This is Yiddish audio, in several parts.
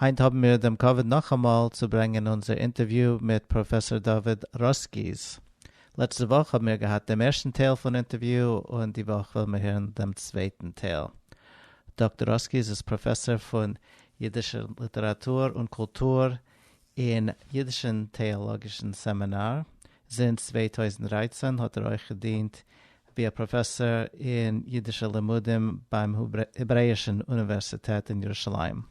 היינט האבן מיר דעם כבוד נאכאמאל צו ברענגען אונזער אינטערוויו מיט פראפעסאר דוד ראסקיס. לעצטע וואך האבן מיר געהאט דעם ערשטן טייל פון אינטערוויו, און די וואך וועלן מיר הערן דעם צווייטן טייל. דאקטאר ראסקיס איז פראפעסאר פון אידישער ליטעראטור און קולטור אין אידישן טעאלאגישן סעמינאר, זינט צוויי טויזנט דרײַצן האט ער אויך געדינט ווי א פראפעסאר אין אידישע לימודים ביים העברעאישן אוניווערסיטעט אין ירושלים.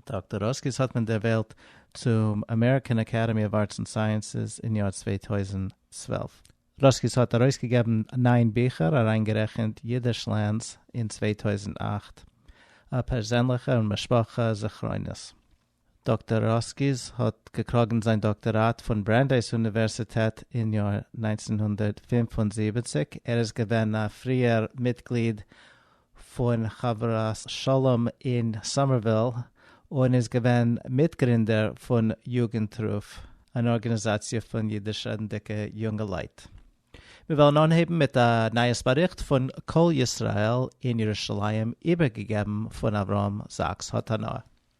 דאקטאר ראסקיס האט מען ערוועלט צום אמעריקען אקעדעמי אוו ארטס ענד סייענסעס אין יאר צוויי טויזנט צוועלף. ראסקיס האט ארויסגעגעבן נײַן ביכער, אריינגערעכנט אידישלענד'ס אין צוויי טויזנט אַכט, א פערזענליכע און משפחה זכרונות. דאקטאר ראסקיס האט געקראגן זיין דאקטאראט פון ברענדייס אוניווערסיטעט אין יאר נײַנצן הונדערט פֿינף און זיבעציק. ער איז געווען א פריער מיטגליד פון חברת שלום אין סאמערוויל, און איז געווען מיטגרינדער פון יוגנטרוף, אן ארגאניזאציע פון אידיש-רעדנדיקע יונגעלייט. מיר וועלן אנהייבן מיט א נייעס באריכט פון קול ישראל אין ירושלים איבערגעגעבן פון אברהם זאקס האט הנאה.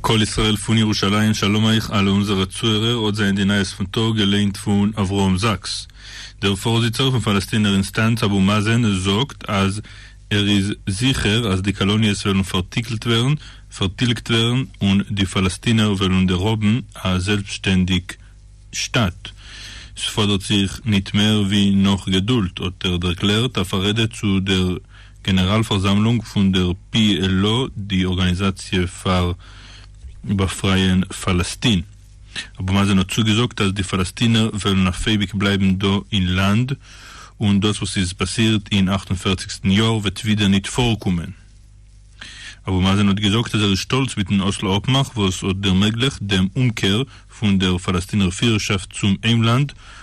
קול ישראל פון ירושלים שלום אייך אלע אונזערע צוהערער האט זיי אין די נייעס פון טאג געליינט פון אברהם זאקס דער פארזיצער פון פאלעסטינער אינסטאנץ אבו מאזען זאגט אז ער איז זיכער אז די קאלאניעס וועלן פארטיקלט ווערן פארטילגט ווערן און די פאלעסטינער וועלן דערהאבן א זעלבסטשטענדיג שטאט ס'פאדערט זיך ניט מער ווי נאך געדולד האט ער דערקלערט א פארעדע צו דער גענעראל פארזאמלונג פון דער פי על או, די ארגאניזאציע פאר באפרייען פאלעסטין. אבו מאזען האט צוגעזאגט אז די פאלעסטינער וועלן אויף אייביג בלייבן דא אין לאנד, און דאס וואס איז פאסירט אין אַכט און פֿערציק יאר וועט ווידער ניט פארקומען. אבו מאזען האט געזאגט אז ער איז שטאלץ מיטן אסלא אפמאך וואס האט דערמעגליכט דעם אומקער פון דער פאלעסטינער פירערשאפט צום היימלאנד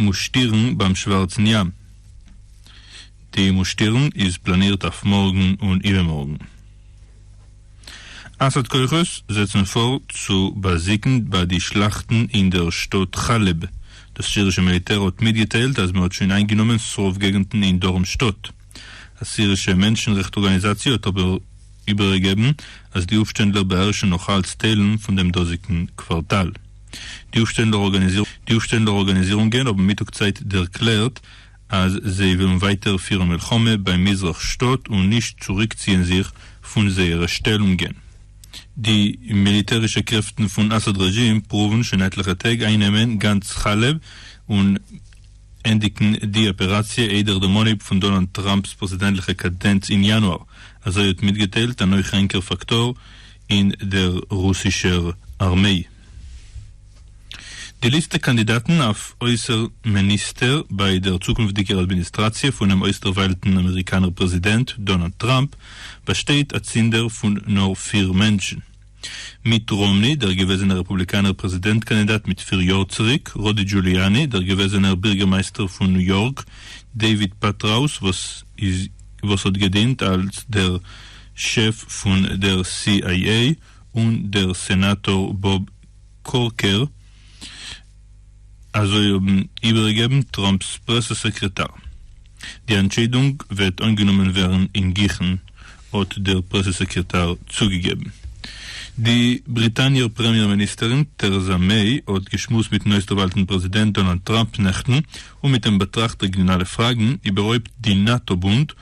מושטירן ביים שווארצן ים. די מושטירן איז פלאנירט אויף מארגן און איבערמארגן. אסאד כוחות זעצן פאר צו באזיגן ביי די שלאכטן אין דער שטאט חאלעב. דאס סירישע מיליטער האט מיטגעטיילט אז מען האט שוין איינגענומען ס'רוב געגנטן אין דרום שטאט. א סירישע מענטשן-רעכט ארגאניזאציע האט אבער איבערגעגעבן אז די אויפשטענדלער באהערשן נאך אלץ טיילן פון דעם דאזיגן קווארטאל. די אפשטעלנדע ארגאניזירונגען האבן מיטאג צייט דערקלערט אז זיי ווילן ווייטער פירן מלחמה ביים מזרח שטאט און נישט צוריקציען זיך פון זייערע שטעלונגען. די מיליטערישע קרעפטן פון אסאד רעזשים פרואוון שוין עטליכע טעג איינעמען גאנץ חאלעב און ענדיגן די אפעראציע איידער דעם אנהייב פון דאנאלד טראמפ'ס פרעזידענטליכע קאדענץ אין יאנואר, אזוי האט מיטגעטיילט אן אויך ענקער פאקטאר אין דער רוסישער ארמיי. די ליסטע קאנדידאטן אויף אויסערן מיניסטער ביי דער צוקונפטיגער אדמיניסטראציע פונעם אויסדערוויילטן אמעריקאנער פרעזידענט דאנאלד טראמפ באשטייט אצינדער פון נאר פיר מענטשן, מיט ראמני, דער געוועזענער רעפובליקאנער פרעזידענט קאנדידאט מיט פיר יאר צוריק, רודי דזשוליאני, דער געוועזענער בירגערמייסטער פון ניו יארק, דעיוויד פעטראוס וואס האט געדינט אלס דער שעף פון דער סי איי עי און דער סענאטאר באב קורקער, אזוי האבן איבערגעגעבן טראמפ'ס פרעסע סעקרעטאר. די אנטשיידונג וועט אנגענומען ווערן אינגיכן, האט דער פרעסע סעקרעטאר צוגעגעבן. די בריטאניער פרעמיער מיניסטערין טערעזא מעי האט געשמועסט מיט'ן אויסדערוואלטן פרעזידענט דאנאלד טראמפ נעכטן, און מיט אים באטראכט רעגיאנאלע פראגן, איבערהויפט די נאטא בונד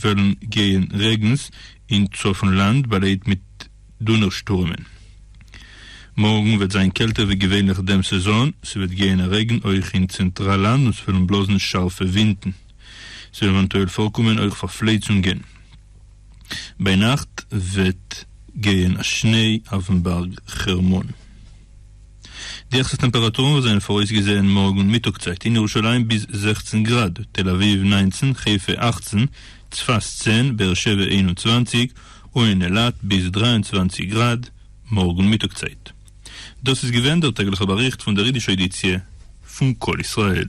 וועלן גייען רעגנס אין צפון לאנד באלייט מיט דונער שטורעמען. מארגן וועט זיין קעלטער ווי געווענליך דעם סעזאן, ס'וועט גייען א רעגן אויך אין צענטראל לאנד און ס'וועלן בלאזן שארפע ווינטן. ס'וועלן עווענטועל פארקומען אויך פארפלייצונגען. ביינאכט וועט גייען א שניי אויפן בארג חרמון. די העכסטע טעמפעראטורן זענען פאראויסגעזעהן מארגן מיטאג צייט אין ירושלים ביז זעכצן גראד, תל אביב נײַנצן, חיפה אַכצן, צפת צען, באר שבע איין און צוואַנציק, און אין אילת ביז דרײַ און צוואַנציק גראד מארגן מיטאג צייט. דאס איז געווען דער טעגליכער באריכט פון דער אידישער עדיציע פון קול ישראל.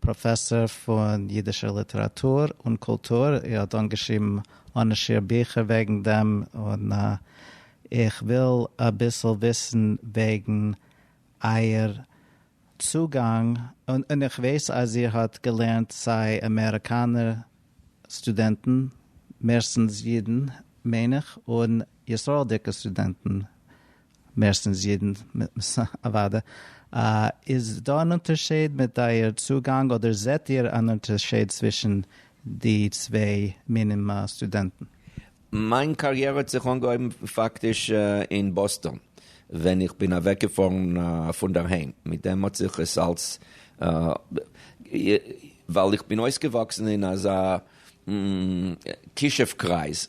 פראפעסאר פון אידישער ליטעראטור און קולטור, ער האט אנגעשריבן אנ'שיעור ביכער וועגן דעם, און איך וויל אביסל וויסן וועגן אייער צוגאנג, און איך ווייס אז איר האט געלערנט סיי אמעריקאנער סטודענטן, מערסטנס אידן מיין איך, און ישראל'דיגע סטודענטן, מערסטנס אידן, אוואדע. איז דא אן אונטערשיד מיט אייער צוגאנג אדער זעט איר אן אונטערשיד צווישן די צוויי מינים סטודענטן? מיין קאריערע האט זיך אנגעהויבן פאקטיש אין באסטאן ווען איך בין אוועקגעפארן פונדערהיים, מיט דעם האט זיך עס אלס ווייל איך בין אויסגעוואקסן אין אזא כישוף קרייז,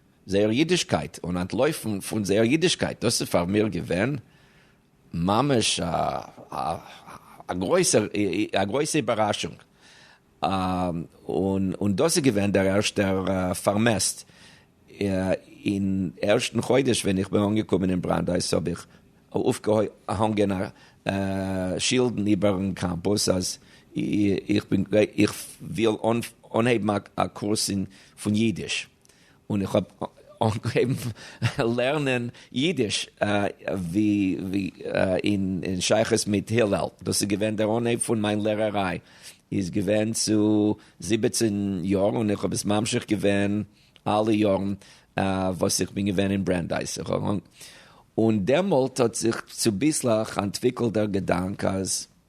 זייער אידישקייט און אנטלויפן פון זייער אידישקייט, דאס איז פאר מיר געווען ממש א גרויסע איבעראשונג, און דאס איז געווען דער ערשטער פארמעסט, אין ערשטן חודש ווען איך בין אנגעקומען אין בראנדייס האב איך אויפגעהאנגען שילדן איבערן קאמפוס אז איך וויל אנהייבן א קורס פון אידיש, און איך האב אנגעהויבן לערנען אידיש ווי אין שייכות מיט הילל, דאס איז געווען דער אנהייב פון מיין לערעריי איז געווען צו זיבעצן יאר און איך האב עס ממשיך געווען אלע יארן וואס איך בין געווען אין ברענדייס, און דעמאלט האט זיך צוביסלעך אנטוויקלט דער געדאנק אז.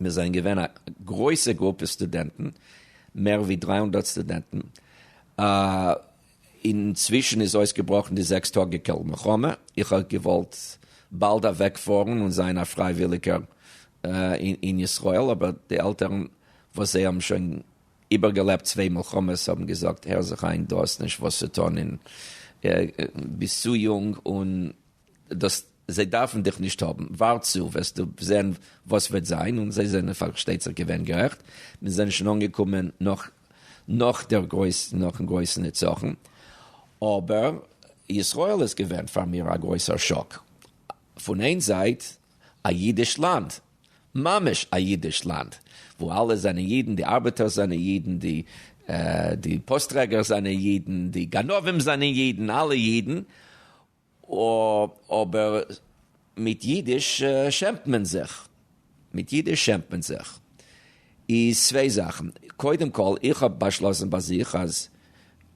מיר זענען געווען א גרויסע גרופע סטודענטן, מער ווי דרײַ הונדערט סטודענטן, אינצווישן איז אויסגעבראכן די זעקס טאגיקעל מלחמה, איך האב געוואלט באלד אוועק פארן און זיין א פרייוויליגער אין ישראל, אבער די עלטערן וואס זיי האבן שוין איבערגעלעבט צוויי מלחמות האבן געזאגט הער זיך איין דו האסט נישט וואס צו טון און ביסט צו יונג און. דאס זיי דארפן דיך נישט האבן, ווארט צו וועסטו זען וואס וועט זיין, און זיי זענען פארשטייט זיך געווען גערעכט, מיר זענען שוין אנגעקומען נאך נאך דער גרויס נאכן גרויסן נצחון, אבער ישראל איז געווען פאר מיר א גרויסער שאק, פון איין זייט א אידיש לאנד, ממש א אידיש לאנד, וואו אלע זענען אידן, די ארבעטערס זענען אידן, די פאסט טרעגערס זענען אידן, די גנבים זענען אידן, אלע אידן, אָ, אָבער מיט ייִדיש שעמט מען זיך. מיט ייִדיש שעמט מען זיך איז צוויי זאַכן. קודם-כּל, איך האָב באַשלאָסן בײַ זיך, אַז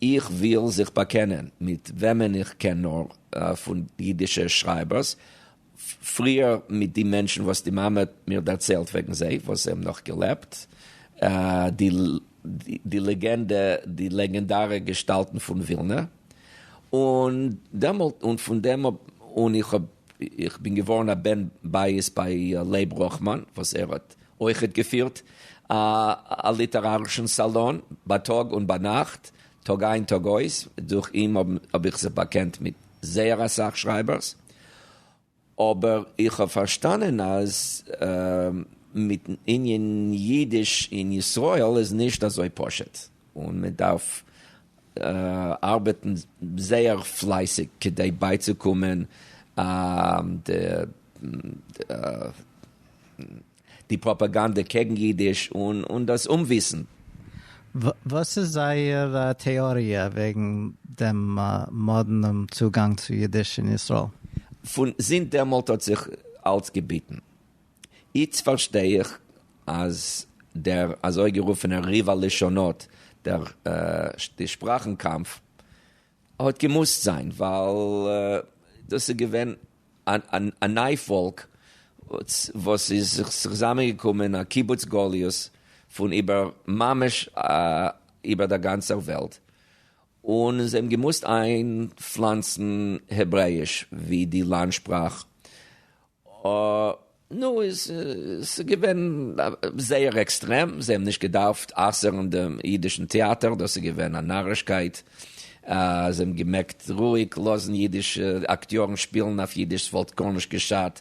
איך וויל זיך באַקענען מיט וועמען איך קען נאָר פֿון ייִדישע שרײַבערס, פריער מיט די מענטשן וואס די מאמע האט מיר דערציילט וועגן זיי וואס זיי האבן נאך געלעבט, די לעגענדע, די לעגענדארע געשטאלטן פון ווילנע, און דעמאלט און פון דעם אן איך האב איך בין געווארן א בן בית ביי לייב ראכמאן וואס ער האט אויכעט געפירט א ליטערארישן סאלאן בייטאג און ביינאכט טאג איין טאג אויס, דורך אים האב איך זיך באקענט מיט זייער אסאך שרייבערס, אבער איך האב פארשטאנען אז מיטן ענין אידיש אין ישראל איז נישט אזוי פשוט, און מען דארף ארבעטן זייער פלייסיג כדי בייצוקומען די די פראפאגאנדע קעגן אידיש און דאס אומוויסן. וואס איז זייער טעאריע וועגן דעם מאדנעם צוגאנג צו אידיש אין ישראל? פון זינט דעמאלט האט זיך אלץ געביטן. איצט פארשטיי איך אז דער אזויגערופענער ריב הלשונות, די שפראכן קאמף, האט געמוזט זיין ווייל דאס איז געווען א ניי פאלק וואס איז זיך צוזאמען געקומען א קיבוץ גליות פון איבער ממש איבער דער גאנצער וועלט און זיי האבן געמוזט איינפלאנצן העברעיש ווי די לאנד שפראך נו, ס'איז געווען זייער עקסטרעם, זיי האבן נישט געדארפט אסר'ן דעם אידישן טעאטער, דאס איז געווען א נארישקייט, זיי האבן געמעגט רואיג לאזן אידישע אקטיארן שפילן אויף אידיש, ס'וואלט גארנישט געשאדט.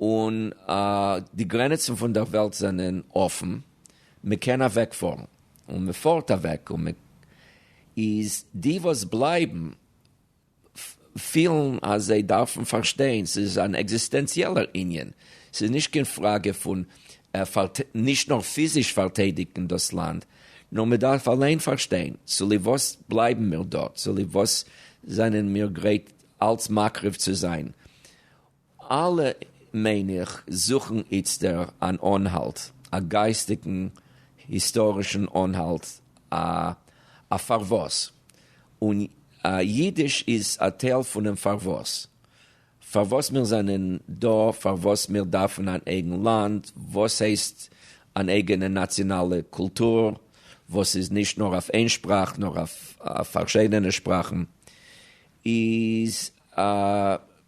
און די גרעניצן פון דער וועלט זענען אפן, מען קען אוועקפארן, און מען פארט אוועק, און מען איז די וואס בלייבן פילן אז זיי דארפן פארשטיין, ס'איז אן עקזיסטענציעלער ענין, ס'איז נישט קיין פראגע פון נישט נאר פיזיש פארטיידיגן דאס לאנד, נאר מען דארף אליין פארשטיין צוליב וואס בלייבן מיר דארט, צוליב וואס זענען מיר גרייט אלץ מקריב צו זיין, אלע, מיין איך, זוכן איצטער אן אנהאלט, א גייסטיגן היסטארישן אנהאלט, א א פארוואס. און אידיש איז א טייל פונעם פארוואס. פארוואס מיר זענען דא, פארוואס מיר דארפן אן אייגן לאנד, וואס הייסט אן אייגענע נאציאנאלע קולטור, וואס איז נישט נאר אויף איין שפראך, נאר אויף פארשידענע שפראכן, איז א.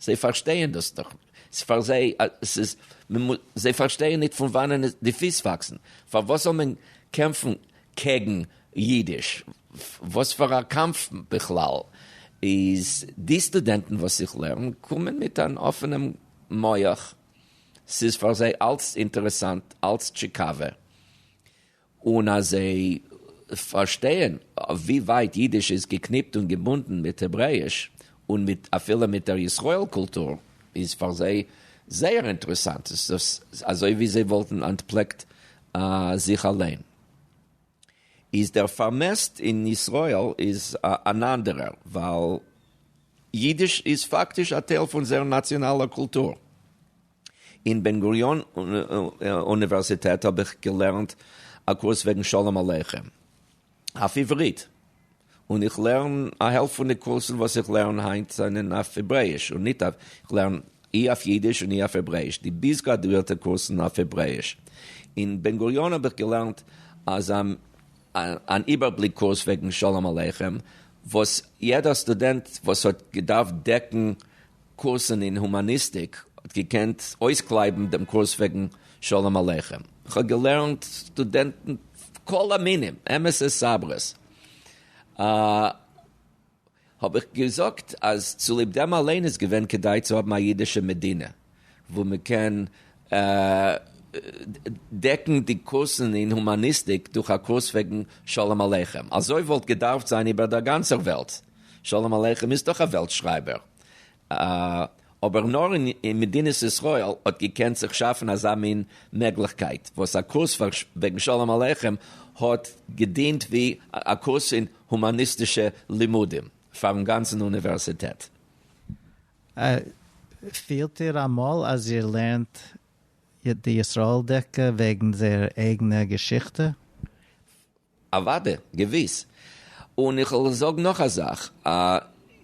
זיי פארשטייען דאס דאך נישט, ס'איז פאר זיי אז ס'איז מ'מוז, זיי פארשטייען נישט פון וואנען די פיס וואקסן, פארוואס זאל מען קעמפן קעגן אידיש, וואס פאר א קאמף בכלל איז, די סטודענטן וואס איך לערן קומען מיט אן אפענעם מח, ס'איז פאר זיי אלץ אינטערעסאנט, אלץ טשיקאווע. און אז זיי פארשטייען ווי ווייט אידיש איז געקניפט און געבונדן מיט העברעאיש און מיט אפילו מיט דער ישראל קולטור איז פאר זיי זייער אינטערעסאנט עס איז אזוי ווי זיי וואלטן אנטפלעקט זיך אליין איז דער פארמעסט אין ישראל איז אן אנדערער ווייל אידיש איז פאקטיש א טייל פון זייער נאציאנאלער קולטור. אין בן גוריון אוניווערסיטעט האב איך געלערנט א קורס וועגן שלום עליכם אויף עברית, און איך לערן א העלפט פון די קורסן וואס איך לערן היינט זענען אויף העברעאיש און ניט אויף, איך לערן אי אויף אידיש און אי אויף העברעאיש, די ביז גראדואירטע קורסן אויף העברעאיש. אין בן גוריון האב איך געלערנט אזא אן איבערבליק קורס וועגן שלום עליכם וואס יעדער סטודענט וואס האט געדארפט דעקן קורסן אין הומאניסטיק האט געקענט אויסקלייבן דעם קורס וועגן שלום עליכם. איך האב געלערנט סטודענטן כל המינים, אמת'ע סברות. האב איך געזאגט אז צוליב דעם אליין איז געווען כדאי צו האבן א אידישע מדינה וואו מען קען דעקן די קורסן אין הומאניסטיק דורך א קורס וועגן שלום עליכם. אזוי וואלט געדארפט זיין איבער דער גאנצער וועלט. שלום עליכם איז דאך א וועלט שרייבער, אבער נאר אין מדינת ישראל האט געקענט זיך שאפן אזא מין מעגליכקייט, וואס א קורס וועגן שלום עליכם האט געדינט ווי א קורס אין הומאניסטישע לימודים פארן גאנצן אוניווערסיטעט. פילט איר אמאל אז איר לערנט די ישראל'דיגע וועגן זייער אייגענע געשיכטע? אוואדע, געוויס. און איך וועל זאגן נאך א זאך,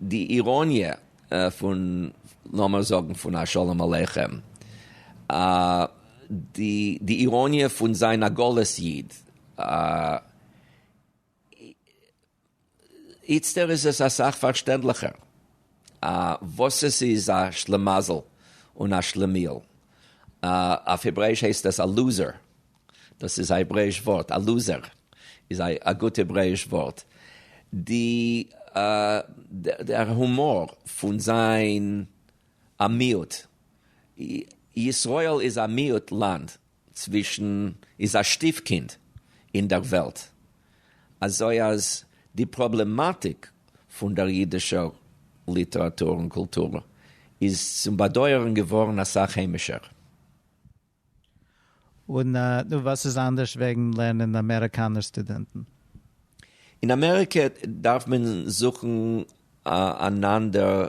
די איראניע פון, לאמער זאגן פון א שלום עליכם, די איראניע פון זיין א גלות איד, איצטער איז עס אסאך פארשטענדליכער וואס עס איז א שלעמאזל און א שלעמיאל. אויף העברעיש הייסט עס א לוזער, דאס איז א העברעיש ווארט, א לוזער איז א גוט העברעיש ווארט. די דער הומאר פון זיין א מיעוט, ישראל איז א מיעוט לאנד, צווישן איז א שטיף קינד אין דער וועלט, אזוי אז די פראבלעמאטיק פון דער אידישער ליטעראטור און קולטור איז צום באדויערן געווארן אסאך היימישער. און נו, וואס איז אנדערש וועגן לערנען אמעריקאנער סטודענטן? אין אמעריקע דארף מען זוכן אן אנדער.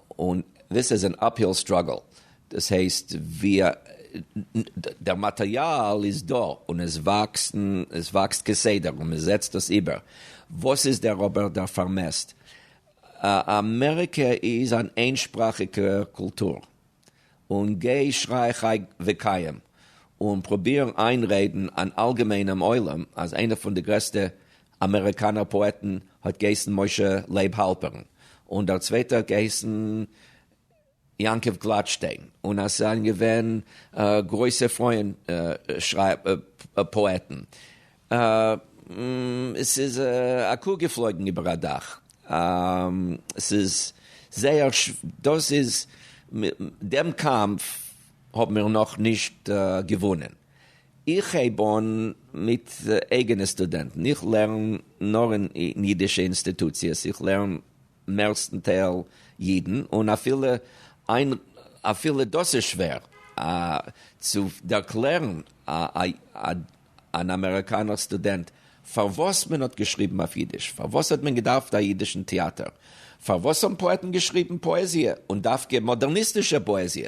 און דאס איז אן אפהיל סטראגעל, דאס הייסט דער מאטריאל איז דא און עס וואקסט כסדר און מען זעצט דאס איבער, וואס איז דער אבער דער פארמעסט? אמעריקע איז אן איינשפראכיגע קולטור, און גיי שריי חי וקיים און פרוביר איינרעדן אן אלגעמיינעם עולם אז איינע פון די גרעסטע אמעריקאנער פאעטן האט געהייסן משה לייב האלפערן און דער צווייטער האט געהייסן יעקב גלאטשטיין און עס זענען געווען גרויסע פרויען פאעטן. עס איז א קו געפלויגן איבער א דאך. עס איז זייער דאס איז דעם קאמף האבן מיר נאך נישט געוואונען. איך הייב אן מיט אייגענע סטודענטן, איך לערן נאר אין אידישע אינסטיטוציעס, איך לערן מערסטנטייל אידן, און אפילו איין אפילו דאס איז שווער צו ערקלערן אן אמעריקאנער סטודענט פארוואס מען האט געשריבן אויף אידיש, פארוואס האט מען געדארפט א אידישן טעאטער, פארוואס האבן פאעטן געשריבן פאעזיע, און דווקא מאדערניסטישע פאעזיע.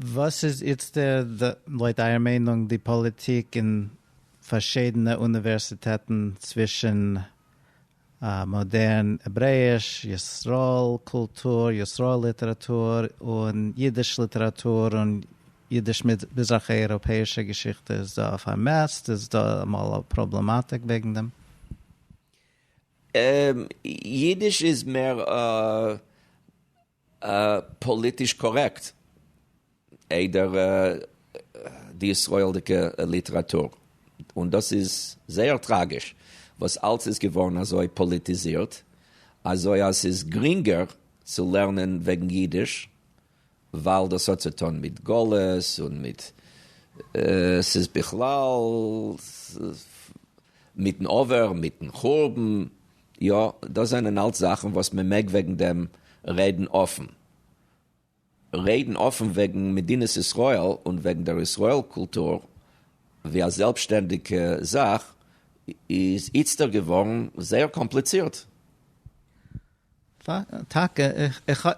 וואס איז איצטער לויט אייער מיינונג די פאליטיק אין פארשידענע אוניווערסיטעטן צווישן מאדערן העברעיש, ישראל קולטור, ישראל ליטעראטור, און אידיש ליטעראטור און אידיש מזרח אייראפעאישע געשיכטע איז דא א פארמעסט? איז דא אמאל א פראבלעמאטיק וועגן דעם? אידיש איז מער א פאליטיש קארעקט איידער די ישראל'דיגע ליטעראטור, און דאס איז זייער טראגיש וואס אלס איז געווארן אזוי פאליטיזירט אזוי אז ס'איז גרינגער צו לערנען וועגן אידיש ווייל דאס האט צו טון מיט גלות און מיט ס'איז בכלל מיטן עבר מיטן חורבן. יא, דאס זענען אלץ זאכן וואס מען מעג וועגן דעם רעדן אפן. רעדן אפן וועגן מדינת ישראל און וועגן דער ישראל קולטור ווי א זעלבסשטענדיגע זאך איז איצטער געווארן זייער קאמפליצירט. טאקע,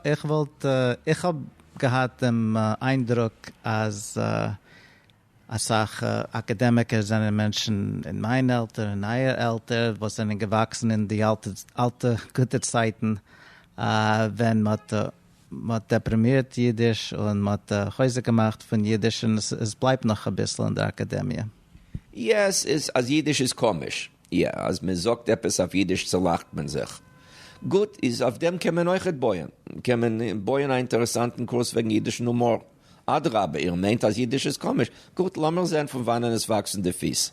איך וואלט, איך האב געהאט דעם איינדרוק אז אסאך אקאדעמיקער זענען מענטשן אין מיין עלטער און אייער עלטער וואס זענען געוואקסן אין די אלטע גוטע צייטן ווען מען האט דעפראמירט אידיש און מען האט חוזק געמאכט פון אידיש און עס בלייבט נאך אביסל אין דער אקאדעמיע. יעס איז אז אידיש איז קאמיש. יא אז מען זאגט עפעס אויף אידיש צולאכט מען זיך. גוט איז אויף דעם קען מען אויכעט בויען. קען מען בויען א אינטערעסאנטן קורס וועגן אידישן הומאר. אדרבה, איר מיינט אז אידיש איז קאמיש? גוט, לאמיר זען פון וואנען עס וואקסן די פיס.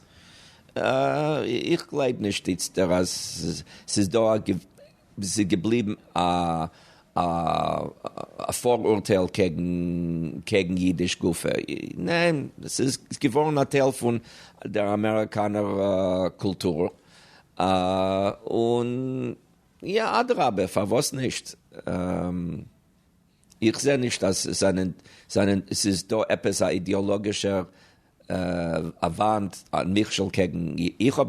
איך גלייב נישט איצטער אז ס'איז דא א, ס'איז געבליבן א א פאראורטייל קעגן אידיש גופא. ניין, ס'איז געווארן א טייל פון דער אמעריקאנער קולטור. און יא, אדרבה, פארוואס נישט? איך זע נישט אז עס זענען, זענען, עס איז דא עפעס א אידעאלאגישער א וואנט, א מכשול קעגן, איך האב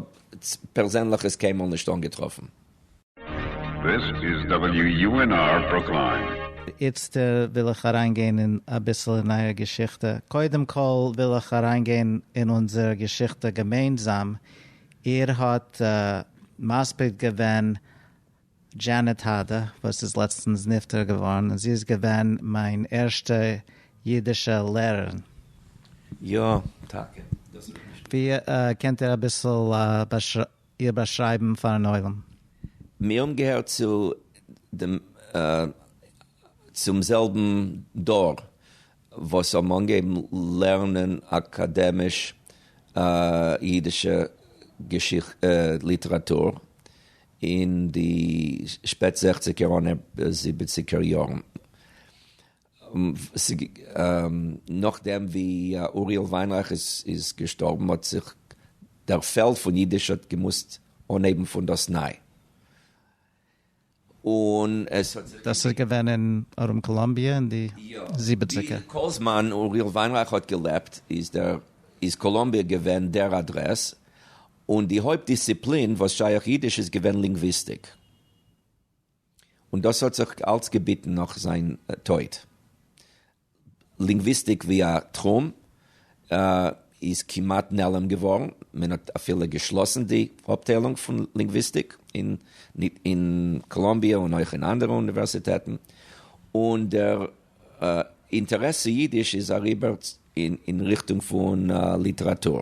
פערזענליך עס קיינמאל נישט אנגעטראפן. This is WUNR Brookline. איצט וויל איך אריין גיין אין אביסל אין אייער געשיכטע. קודם כל וויל איך אריין גיין אין אונזער געשיכטע געמיינזאם. איר האט מספיד געווען דזשענעט האדע וואס איז לעצטנס נפטר געווארן און זי איז געווען מיין ערשטע אידישע לערערין. יא טאקע, דאס האב איך נישט געוואוסט. ווי קענט איר אביסל איר באשרייבן פארן עולם? מיר האבן געהערט צו דעם צום זעלבן דור וואס האבן אנגעהויבן לערנען אקאדעמיש אידישע געשיכ ליטעראטור אין די שפעט זעכציגער אנהייב זיבעציגער יארן, נאכדעם ווי אוריאל וויינרייך איז געשטארבן האט זיך דער פעלד פון אידיש האט געמוזט אנהייבן פון דאס ניי. דאס איז געווען אין ארום קאלאמביע אין די זיבעציגער? יא, כל זמן אוריאל וויינרייך האט געלעבט איז קאלאמביע געווען דער אדרעס, און די הויפט דיסציפלין וואס שייך אידיש איז געווען לינגוויסטיק, און דאס האט זיך אלץ געביטן נאך זיין טויט. לינגוויסטיק ווי א תחום איז כמעט נעלם געווארן, מען האט אפילו געשלאסן די אפטיילונג פון לינגוויסטיק אין קאלאמביע און אויך אין אנדערע אוניווערסיטעטן, און דער אינטערעס צו אידיש איז אריבער אין ריכטונג פון ליטעראטור.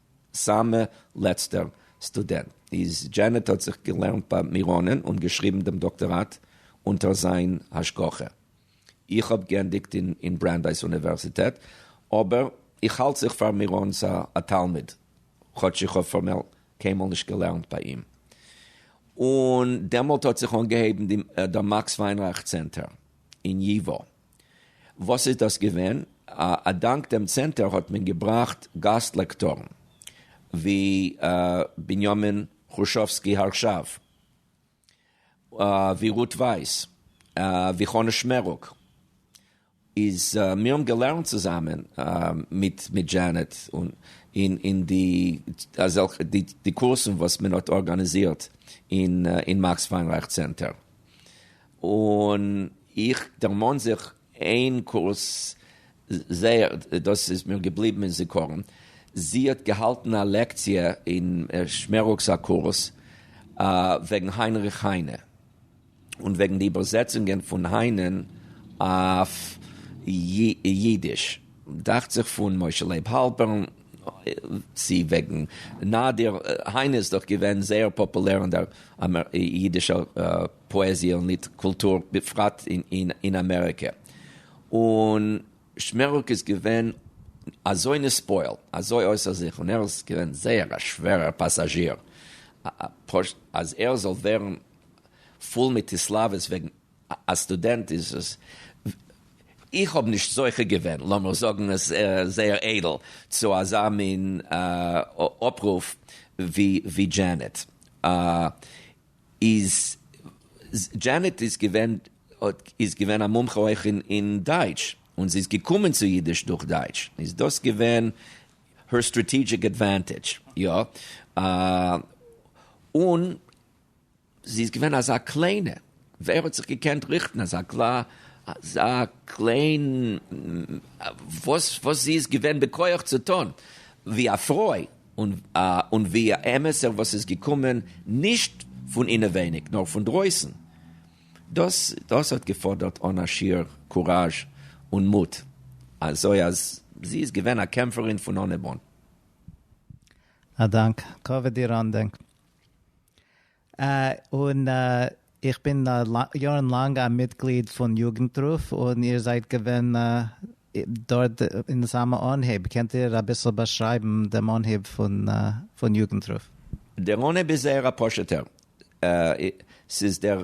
סאמע לעצטער סטודענט איז דזשענעט האט זיך געלערנט ביי מיראנען און געשריבן דעם דאקטאראט אונטער זיין השגחה. איך האב גענדיגט אין ברענדייס אוניווערזיטעט אבער איך האלט זיך פאר מיראן'ס א תלמיד כאטש איך האב פארמעל קיינמאל נישט געלערנט ביי אים. און דעמאלט האט זיך אנגעהויבן דער מאקס וויינרייך צענטער אין ייווא וואס איז דאס געווען? א דאנק דעם צענטער האט מען געבראכט גאסט לעקטארן ווי בנימין חרשובסקי הרשב, ווי רות ווייס, ווי חנה שמערוק, איז מיר האבן געלערנט צוזאמען מיט דזשענעט אין די אזעלכע די קורסן וואס מען האט ארגאניזירט אין מאקס וויינרייך צענטער, און איך דערמאן זיך איין קורס זייער, דאס איז מיר געבליבן אין זיכרון, זי האט געהאלטן א לעקציע אין שמערוק'ס א קורס וועגן היינריך היינע, און וועגן די איבערזעצונגען פון היינע'ן אויף אידיש, דאכט זיך פון משה לייב האלפערן, צו וועגן נאדיר, היינע איז דאך געווען זייער פאפולער אין דער אידישער פאעזיע און ליד קולטור בפרט אין אמעריקע, און שמערוק איז געווען אזוי נספויל, אזוי אויסער זיך, און ער איז געווען זייער א שווערער פאסאזשיר, אז ער זאל ווערן פול מיט התלהבות וועגן א סטודענט איז עס, איך האב נישט זוכה געווען, לאמיר זאגן עס זייער איידל, צו אזא מין אפרוף ווי דזשענעט. איז דזשענעט איז געווען האט איז געווען א מומחה אויך אין דייטש און זי איז געקומען צו אידיש דורך דייטש איז דאס געווען הער סטראטעגיק עדווענטעדזש יא און זי איז געווען אזא קליינע ווער האט זיך געקענט ריכטן אזא אזא קליין וואס וואס זי איז געווען בכח צו טון ווי א פרוי. און ווי א אמת'ער וואס איז געקומען נישט פון אינעווייניג נאר פון דרויסן. דאס האט געפאדערט אן א שיעור קוראזש און מוט, אזוי אז זי איז געווען א קעמפערין פון אנהייב אן. א דאנק. כבוד איר אנדענק. און איך בין יארן לאנג א מיטגליד פון יוגנטרוף, און איר זייט געווען דארט אין סאמע אנהייב, קענט איר אביסל באשרייבן דעם אנהייב פון יוגנטרוף? דער אנהייב איז זייער א פשוט'ער, ס'איז דער.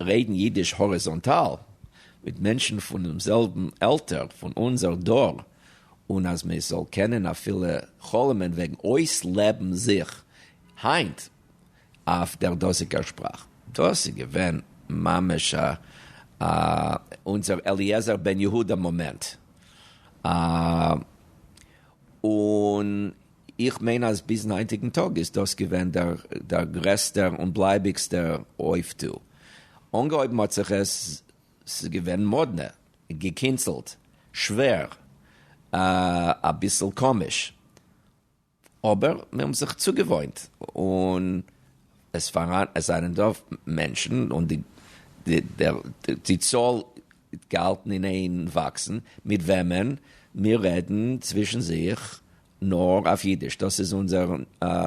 רעדן אידיש האריזאנטאל מיט מענטשן פונעם זעלבן עלטער פון אונזער דור, און אז מען זאל קענען אפילו חלומ'ען וועגן אויסלעבן זיך היינט אויף דער דאזיגער שפראך, דאס איז געווען ממש א אונזער אליעזר בן יהודה מאמענט. און. איך מיין אז ביזן היינטיגן טאג איז דאס געווען דער גרעסטער און בלייביגסטער אויפטו. אנגעהויבן האט זיך עס, ס'איז געווען מאדנע, געקינצלט, שווער, אביסל קאמיש, אבער מיר האבן זיך צוגעוואוינט און עס זענען דא מענטשן און די צאל געהאלטן אין איין וואקסן, מיט וועמען מיר רעדן צווישן זיך נאר אויף אידיש, דאס איז אונזער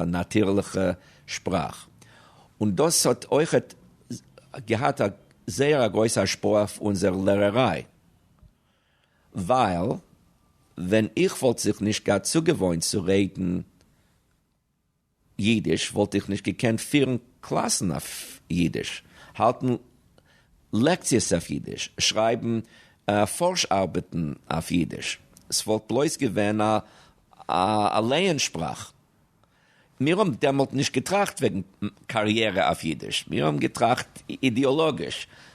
נאטירליכע שפראך, און דאס האט אויכעט געהאט א זייער א גרויסע השפעה אויף אונזער לערעריי, ווייל ווען איך וואלט זיך נישט געהאט צוגעוואוינט צו רעדן. יידיש וואלט איך נישט געקענט פירן קלאסן אויף יידיש, האלטן לעקציעס אויף יידיש, שרייבן פארש ארבעטן אויף יידיש, ס'וואלט בלויז געווען א לייען שפראך. מיר האבן דעמאלט נישט געטראכט וועגן קאריערע אויף יידיש, מיר האבן געטראכט אידעאלאגיש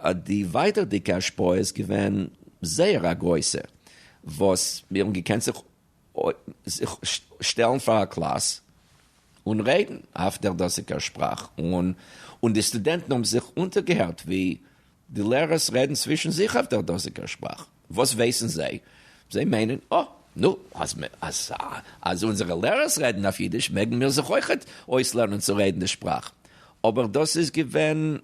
האט די ווייטערדיגע השפעה איז געווען זייער א גרויסע, וואס מיר האבן געקענט זיך שטעלן פאר א קלאס און רעדן אויף דער דאזיגער שפראך, און די סטודענטן האבן זיך אונטערגעהערט ווי די לערערס רעדן צווישן זיך אויף דער דאזיגער שפראך. וואס ווייסן זיי? זיי מיינען, אה, נו, אז אונזערע לערערס רעדן אויף אידיש, מעגן מיר זיך אויכעט אויסלערנען צו רעדן די שפראך. אבער דאס איז געווען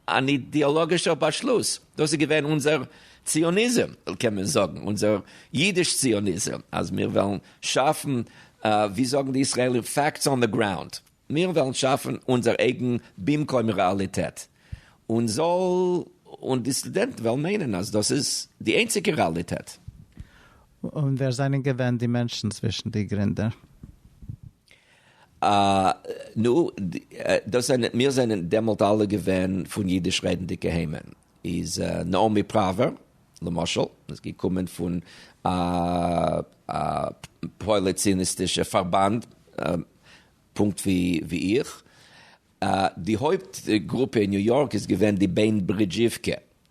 אן אידעאלאגישער באשלוס, דאס איז געווען אונזער ציוניזם, קען מען זאגן, אונזער אידיש-ציוניזם, אז מיר וועלן שאפן, ווי זאגן די ישראלים, פאקטס אן די גראונד, מיר וועלן שאפן אונזער אייגן במקום רעאליטעט, און זאל, און די סטודענטן וועלן מיינען אז דאס איז די איינציגע רעאליטעט. און ווער זענען געווען די מענטשן צווישן די גרינדער? נו, דאס זענען, מיר זענען דעמאלט אלע געווען פון אידיש רעדנדיגע היימען. איז נעמי פראווער, למשל, איז געקומען פון א פויליציניסטישע פארבאנד, פונקט ווי איך. די הויפט גרופע אין ניו יארק איז געווען די בענד ברידזשיווקע,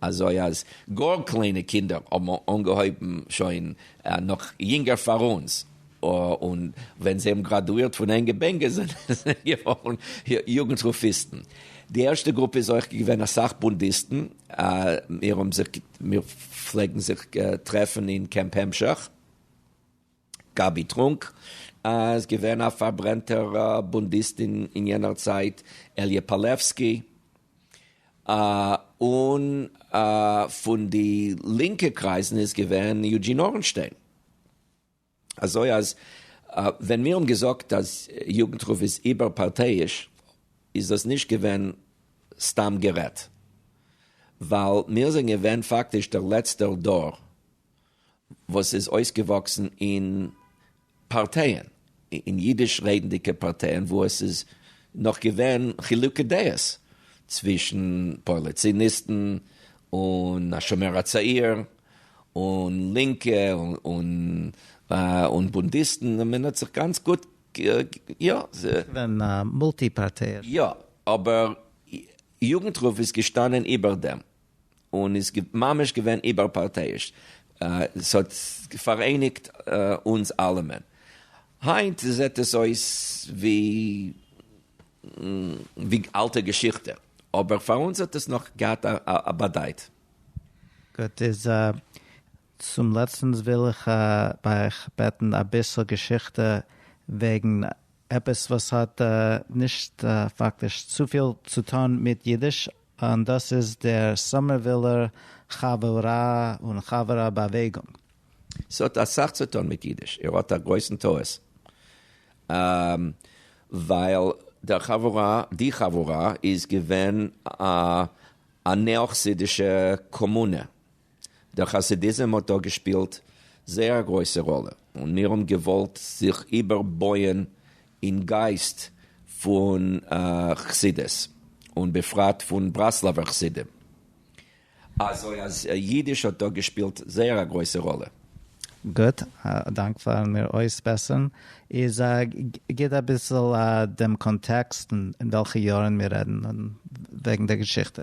אזוי אז גאר קליינע קינדער האבן אנגעהויבן שוין נאך יונגער פאר אונז, און ווען זיי האבן גראדואירט פון ענגע בענגער זענען זיי געווארן יוגנט רופאיסטן. די ערשטע גרופע איז אויך געווען אסאך בונדיסטן, מיר פלעגן זיך טרעפן אין קעמפ המשך. גאבי טרונק איז געווען א פארברענטער בונדיסט אין יענער צייט, אליע פאלעווסקי, און פון די לינקע קרייזן איז געווען יוג'ין אורנשטיין. אזוי אז ווען מיר האבן געזאגט אז יוגנטרוף איז איבערפארטייאיש איז דאס נישט געווען סתם גערעדט, ווייל מיר זענען געווען פאקטיש דער לעצטער דור, וואס איז אויסגעוואקסן אין פארטייען, אין אידיש רעדנדיגע פארטייען, וואו עס איז נאך געווען חילוקי דעות צווישן פארליציניסטן און השומר הצעיר, און לינקע און בונדיסטן, און מען האט זיך גאנץ גוט, יא. עס איז געווען מולטי פארטייען. יא, אבער יוגנטרוף איז געשטאנען איבער דעם. און איז ממש געווען איבערפארטייאיש, ס'האט פאראייניגט אונז אלעמען. היינט זעט עס אויס ווי אלטע געשיכטע, אבער פאר אונז האט עס נאך געהאט א באדייט. גוט, איז צום לעצטנס וויל איך ביי אייך בעטן אביסל געשיכטע וועגן עפעס וואס האט נישט פאקטיש צופיל צו טון מיט אידיש, און דאס איז דער סאמערווילער חברה און חברה באוועגונג. ס'האט אסאך צו טון מיט אידיש. איר האט א גרויסן טעות. ווייל דער חברה, די חברה, איז געווען א נעא-חסידישע קאמונע. דער חסידיזם האט דא געשפילט זייער א גרויסע ראלע, און מיר האבן געוואלט זיך איבער בויען אין גייסט פון חסידות, און בפרט פון ברסלב'ער חסידים, אזוי אז אידיש האט דא געשפילט זייער א גרויסע ראלע. גוט, א דאנק פארן מיר אויסבעסערן. איז גיב אביסל דעם קאנטעקסט אין וועלכע יארן מיר רעדן וועגן דער געשיכטע.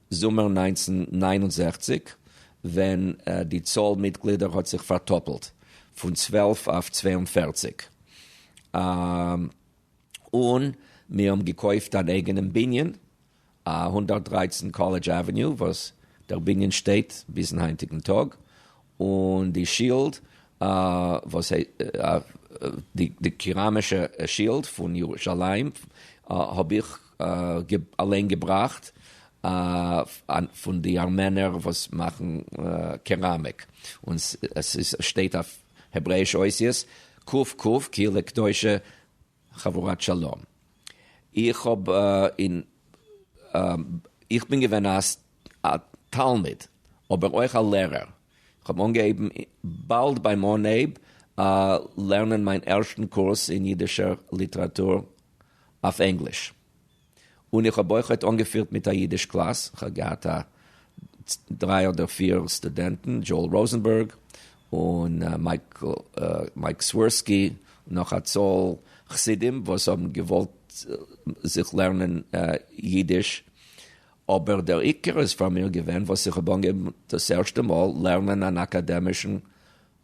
זומער נײַנצן נײַן און זעכציק, ווען די צאל מיטגלידער האט זיך פארטאפלט, פון צוועלף אויף צוויי און פֿערציק, און מיר האבן געקויפט אן אייגענעם בנין, הונדערט דרײַצן קאלעדזש עוועניו, וואס דער בנין שטייט ביזן היינטיגן טאג, און די שילד וואס די קעראמישע שילד פון ירושלים האב איך אליין געבראכט פון די ארמענער וואס מאכן קעראמיק, און עס שטייט אויף העברעיש אותיות ק ק קהילה קדושה חבורת שלום. איך האב אין איך בין געווען א תלמיד אבער אויך א לערער. איך האב אנגעהויבן באלד ביים אנהייב לערנען מיין ערשטן קורס אין אידישער ליטעראטור אויף ענגליש. און איך האב אויך אויך אנגעפירט מיט א אידיש קלאס, כ'האב געהאט א דריי אדער פיר סטודענטן, דזשאול ראזענבערג און מייק סווירסקי, נאך א צאל חסידים וואס האבן געוואלט זיך לערנען אידיש, אבער דער עיקר איז פאר מיר געווען וואס איך האב אנגעהויבן דאס ערשטע מאל לערנען אן אקאדעמישן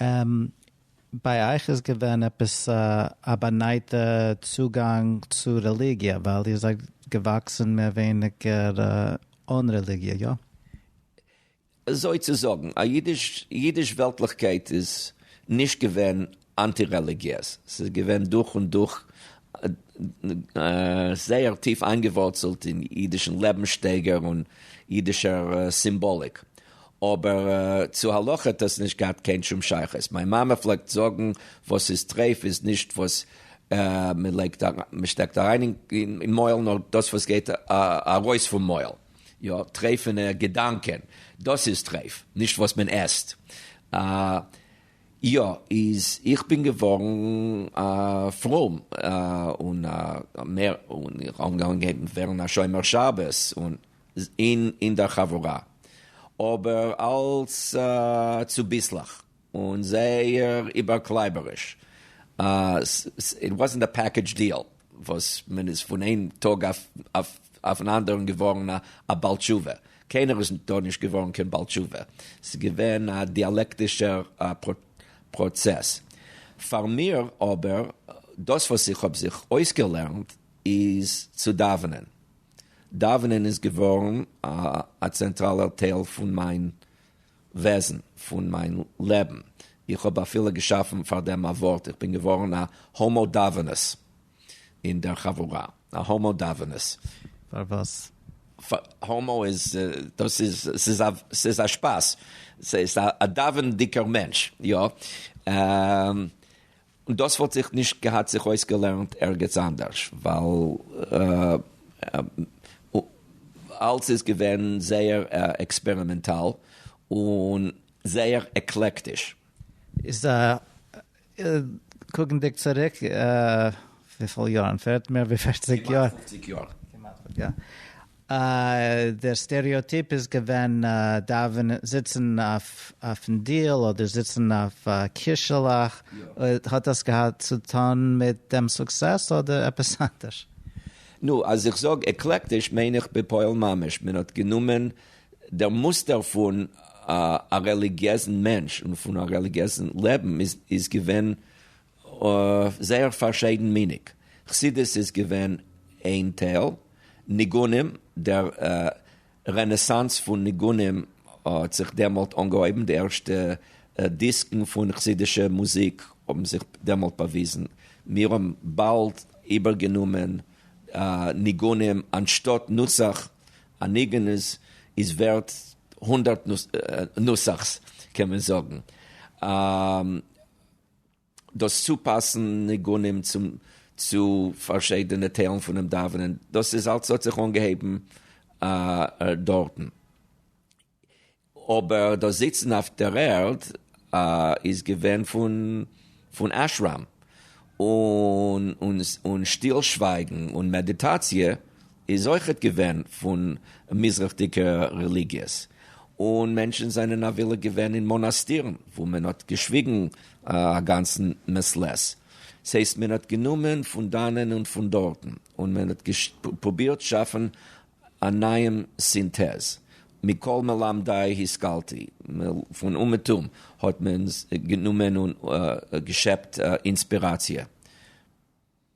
אממ. ביי אייך איז געווען עפעס א באנייטע צוגאנג צו רעליגיע, ווייל איר זייט געוואקסן מער ווייניגער אן רעליגיע, איא? אזוי צו זאגן, א אידיש אידיש וועלטליכקייט איז נישט געווען אנטי רעליגיעז, ס'איז געווען דורך און דורך זייער טיף איינגעווארצלט אין אידישן לעבנסשטייגער און אידישער סימבאליק, אבער צו הלכה האט עס נישט געהאט קיין שום שייכות, מיין מאמע פלעגט זאגן וואס ס'איז טרייף איז נישט וואס מ'שטעקט אריין אין מויל נאר דאס וואס גייט ארויס פון מויל, יא טרייפענע געדאנקען דאס איז טרייף נישט וואס מען עסט. יא, איז איך בין געווארן א פרום און מער און איך אנגעהויבן ווערן א שומר שבת און אין דער חבורה, אבער אלס צוביסלעך און זייער איבערקלייבעריש, איט וואזענט א פעקעדזש דיעל, וואס מען איז פון איין טאג אויפן אנדערן געווארן א בעל תשובה, קיינער איז דאן נישט געווארן קיין בעל תשובה, ס'איז געווען א דיאלעקטישער פראצעס. פאר מיר אבער, דאס וואס איך האב זיך אויסגעלערנט איז צו דאווענען, דאווענען איז געווארן א צענטראלער טייל פון מיין וועזן פון מיין לעבן, איך האב אפילו געשאפן פאר דעם א ווארט, איך בין געווארן א הומו דאווענעס אין דער חבורה, א הומו דאווענעס. פאר וואס? הומו איז, דאס איז, ס'איז א, ס'איז א שפאס, ס'איז א דאווענדיגער מענטש, יא. און דאס וואלט זיך נישט געהאט זיך אויסגעלערנט ערגעץ אנדערש, ווייל אלס איז געווען זייער עקספערימענטאל און זייער עקלעקטיש. איז א, קוקנדיג צוריק, וויפיל יארן, מער ווי פערציג יאר? כמעט פופציג יאר. דער סטעריאטיפ איז געווען דאווענען זיצן אויפן דיל אדער זיצן אויף א קישעלעך, האט דאס געהאט צו טון מיט דעם סוקסעס אדער עפעס אנדערש? נו, אז איך זאג עקלעקטיש מיין איך בפועל ממש, מען האט גענומען דער מוסטער פון א רעליגיעזן מענטש און פון א רעליגיעזן לעבן איז געווען אויף זייער פארשיידנמיניג חסידות איז געווען איין טייל ניגונים, דער רענעסאנס פון ניגונים האט זיך דעמאלט אנגעהויבן, די ערשטע דיסקן פון חסידישע מוזיק האבן זיך דעמאלט באוויזן, מיר האבן באלד איבערגענומען ניגונים אנשטאט נוסח, א ניגון איז ווערט הונדערט נוסח'ס קען מען זאגן. דאס צופאסן ניגונים צו פארשידענע טיילן פונעם דאווענען, דאס איז אלס האט זיך אנגעהויבן דארטן, אבער דאס זיצן אויף דער ערד איז געווען פון אשרם, און שטיל שווייגן און מעדיטאציע איז אויכעט געווען פון מזרח'דיגע רעליגיעס, און מענטשן זענען אבילה געווען אין מאנאסטירן וואו מען האט געשוויגן א גאנצן מעת לעת. ס'הייסט מען האט גענומען פון דאנען און פון דארטן, און מען האט פרובירט שאפן א נייעם סינטעז. מכל מלמדי השכלתי, פון אומעטום האט מען גענומען און געשעפט אינספיראציע.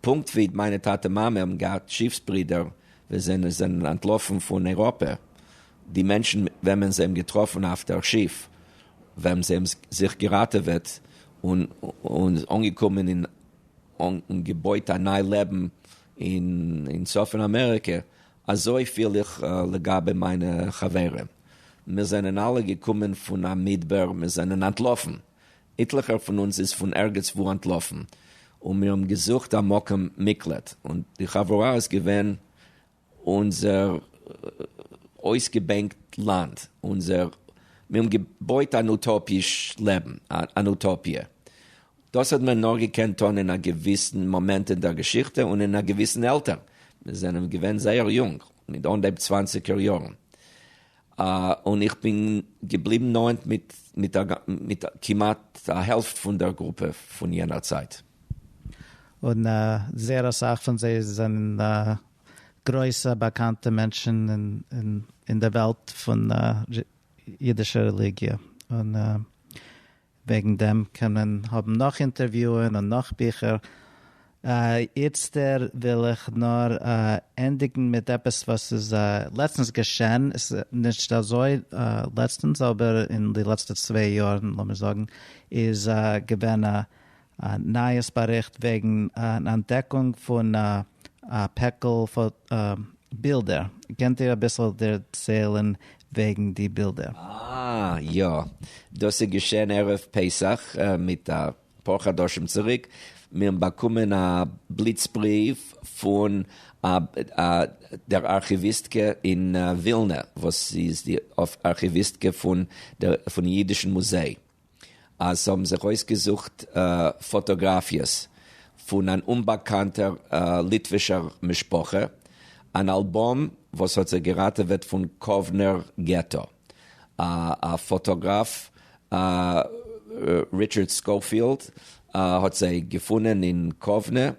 פונקט ווי מיינע טאטע מאמע האבן געהאט טשיפס ברידער ווען זיי זענען אנטלאפן פון אייראפע, די מענטשן וועמען זיי האבן געטראפן אויף דער שיף ווען זיי האבן זיך געראטעוועט און אנגעקומען אין און געבויט א ניי לעבן אין צפון אמעריקע, אזוי פיל איך לגבי מיינע חברים, מיר זענען אלע געקומען פון א מדבר, מיר זענען אנטלאפן. איטליכער פון אונז איז פון ערגעץ וואו אנטלאפן, און מיר האבן געזוכט א מקום מקלט, און די חברה איז געווען אונזער אויסגעבענקט לאנד, אונזער, מיר האבן געבויט אן אוטאפיש לעבן, אן אוטאפיע. דאס האט מען נאר געקענט טון אין א געוויסן מאמענט אין דער געשיכטע און אין א געוויסן עלטער, מיר זענען געווען זייער יונג, מיט אנהייב צוואנציגער יארן, און איך בין געבליבן נאענט מיט כמעט א העלפט פון דער גרופע פון יענער צייט. און זייער אסאך פון זיי זענען גרויסע באקאנטע מענטשן אין די וועלט פון אידישע רעליגיע. וועגן דעם קען מען האבן נאך אינטערוויוען און נאך ביכער, איצטער וויל איך נאר ענדיגן מיט עפעס וואס איז לעצטנס געשען, נישט אזוי לעצטנס אבער אין די לעצטע צוויי יארן לאמיר זאגן, איז געווען א נייעס באריכט וועגן אן אנטדעקונג פון א א פעקל בילדער, קענט איר אביסל דערציילן וועגן די בילדער? אה יא, דאס איז געשען ערב פסח מיט אפאר חדשים צוריק, מיר האבן באקומען א בליץ בריוו פון דער ארכיוויסטקע אין ווילנע וואס איז די ארכיוויסטקע פון אידישן מוזיי, אז ס'האבן זיך אויסגעזוכט פאטאגראפיעס פון אן אומבאקאנטער ליטווישער משפחה, אן אלבום וואס האט זיי געראטעוועט פון קאוונער געטא, א פאטאגראף ריטשארד סקאופיעלד האט זיי געפונען אין קאוונע,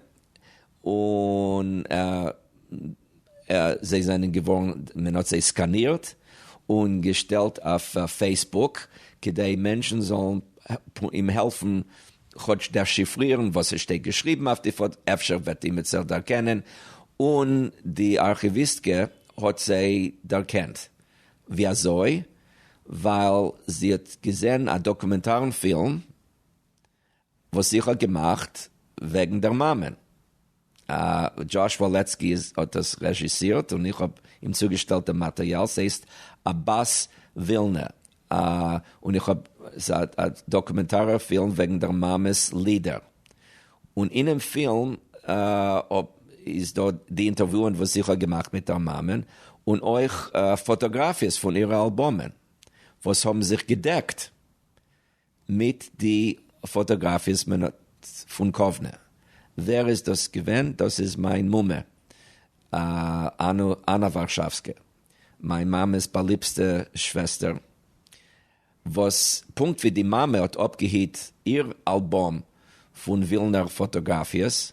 און. זיי זענען געווארן, מען האט זיי סקאנירט און געשטעלט אויף פעיסבוק כדי מענטשן זאלן אים העלפן כאטש דעשיפרירן וואס עס שטייט געשריבן אויף די פאטא, אפשר וועט אימער זיך דערקענען, און די ארכיוויסטקע האט זיי דערקענט. ווי אזוי? ווייל זי האט געזען א דאקומענטארן פילם וואס איך האב געמאכט וועגן דער מאמע. דזשאש וואלעצקי האט דאס רעזשיסירט און איך האב אים צוגעשטעלט דעם מאטעריאל, ס'הייסט אבאס ווילנע, און איך האב, ס'איז א דאקומענטארער פילם וועגן דער מאמע'ס לידער, און אינעם פילם איז דא די אינטערוויוען וואס איך האב געמאכט מיט דער מאמע, און אויך פאטאגראפיעס פון אירע אלבומען וואס האבן זיך געדעקט. מיט די פאטאגראפיעס מען האט פון קאוונע. ווער איז דאס געווען? דאס איז מיין מומע אנא ווארשאווסקע, מיין מאמע'ס באליבסטע שוועסטער, וואס פונקט ווי די מאמע האט אפגעהיט איר אלבום פון ווילנער פאטאגראפיעס,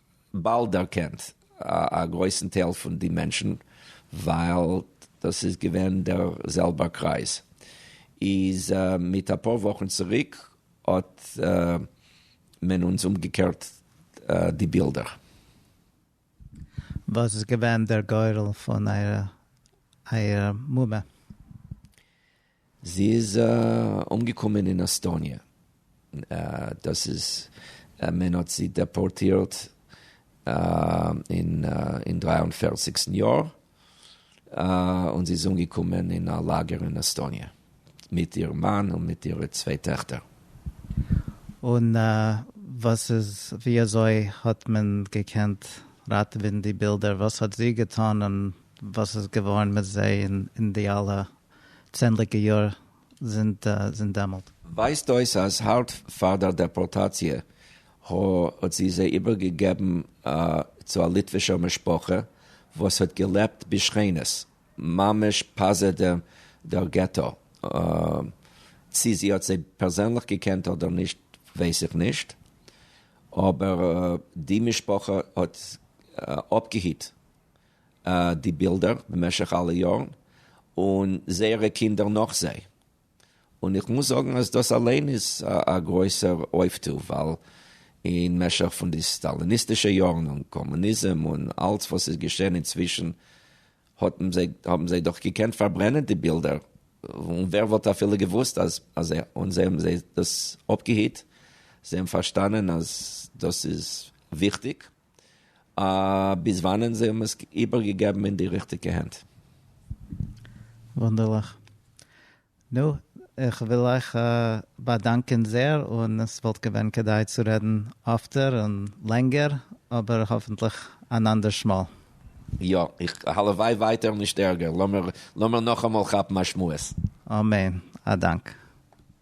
באלד דערקענט א גרויסן טייל פון די מענטשן ווייל דאס איז געווען דער זעלבער קרייז, איז מיט אפאר וואכן צוריק האט מען אונז אומגעקערט די בילדער. וואס איז געווען דער גורל פון אייער מומע? זי איז אנגעקומען אין עסטאניע, דאס איז מען האט זי דעפארטירט אין אין דרײַ און פֿערציק טן יאר, און זי איז אנגעקומען אין א לאגער אין עסטאניע מיט איר מאן און מיט אירע צוויי טעכטער. און וואס איז ווי אזוי האט מען געקענט ראטעווען די בילדער? וואס האט זי געטון און וואס איז געווארן מיט זיי אין די אלע צענדליגע יאר זינט דעמאלט. ווייזט אויס אז הארט פאר דער דעפארטאציע הא האט זי זיי איבער געגעבן צו א ליטווישער משפחה וואס האט געלעבט בשכינות ממש פזע דער געטא, צי זי האט זיי פערזענליך געקענט אדער נישט ווייס איך נישט, אבער די משפחה האט אפגעהיט. די בילדער במשך אלע יארן און זייערע קינדער נאך זיי, און איך מוז זאגן אז דאס אליין איז א גרויסער אויפטו, ווייל אין משך פון די סטאליניסטישע יארן און קאמוניזם און אלץ וואס איז געשען אינצווישן האבן זיי דאך געקענט פארברענען די בילדער, און ווער וואלט אפילו געוואוסט אז זיי און זיי האבן זיי דאס אפגעהיט, זיי האבן פארשטאנען אז דאס איז וויכטיג. ביז וואנען זיי האבן עס איבערגעגעבן אין די ריכטיגע הענט. וואונדערליך. נו, איך וויל אייך באדאנקען זעהר, און עס וואלט געווען כדאי צו רעדן אפטער און לענגער, אבער האפנטליך אן אנדערש מאל. יא, איך הלוואי ווייטער נישט ערגער, לאמיר נאכאמאל כאפן א שמועס. אמן, א דאנק.